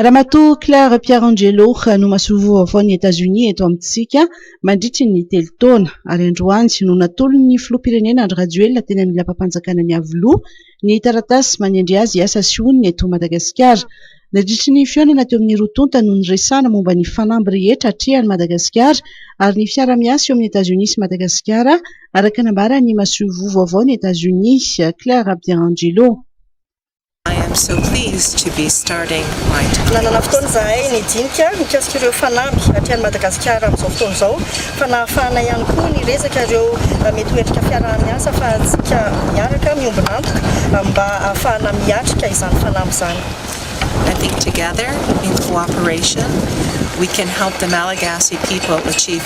Ramatoa Claire Pierangelo no masoivoho vaovaon'i Etazonia eto amintsika mandritry ny telo taona ary androany no natolon'ny filoham-pirenena Andry Rajoelina teny amin'ny lapam-panjakana Iavoloha ny taratasy manendry azy hiasa sy honina eto Madagasikara. Nadritry ny fihaonana teo amin'ny roa tonta no niresahana momba ny fanamby rehetra atrehan'i Madagasikara ary ny fiara-miasa eo amin'i Etazonia sy Madagasikara araka nambaran'ny masoivoho vaovaon'i Etazonia Claire Pierangelo. I am so pleased to be starting my time. Nanana fotoana izahay nidinika mikasika ireo fanamby aty any Madagasikara amin'izao fotoana izao fa nahafahana ihany koa niresaka ireo mety ho endrika fiaraha-miasa afahantsika miaraka miombon'antoka amin'ny mba ahafahana miatrika izany fanamby izany. I think together, in cooperation, we can help the Malagasy people achieve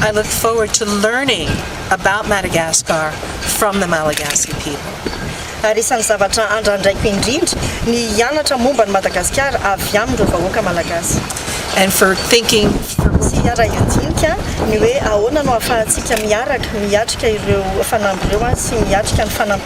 I look forward to learning about Madagascar from the Malagasy people. Ary isan'ny zavatra andrandraiko indrindra ny hianatra momba an'i Madagasikara avy amin'ireo vahoaka Malagasy. And for thinking for. Tsy hiara-hiadinika ny hoe ahoana no ahafahantsika miaraka miatrika ireo fanamby ireo sy miatrika ny fanampiana.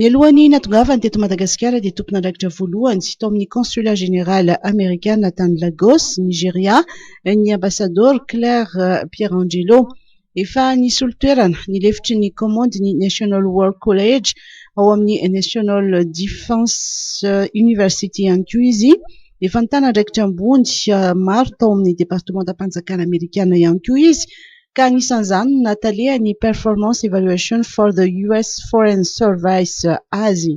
Mialohan'ny nahatongavany teto Madagasikara dia tompon'andraikitra voalohany tao amin'ny Consulat Général Amerikana tany Lagos, Nigeria, ny Ambasadaoro Claire Pierangelo. Efa nisolo toerana ny lefitry ny kaomandy ny National War College ao amin'ny National Defense University ihany koa izy. Efa nitana andraikitra ambony maro tao amin'ny Departemantam-panjakana Amerikana ihany koa izy ka anisan'izany ny nahatalehan'ny Performance Evaluation for the US Foreign Service azy.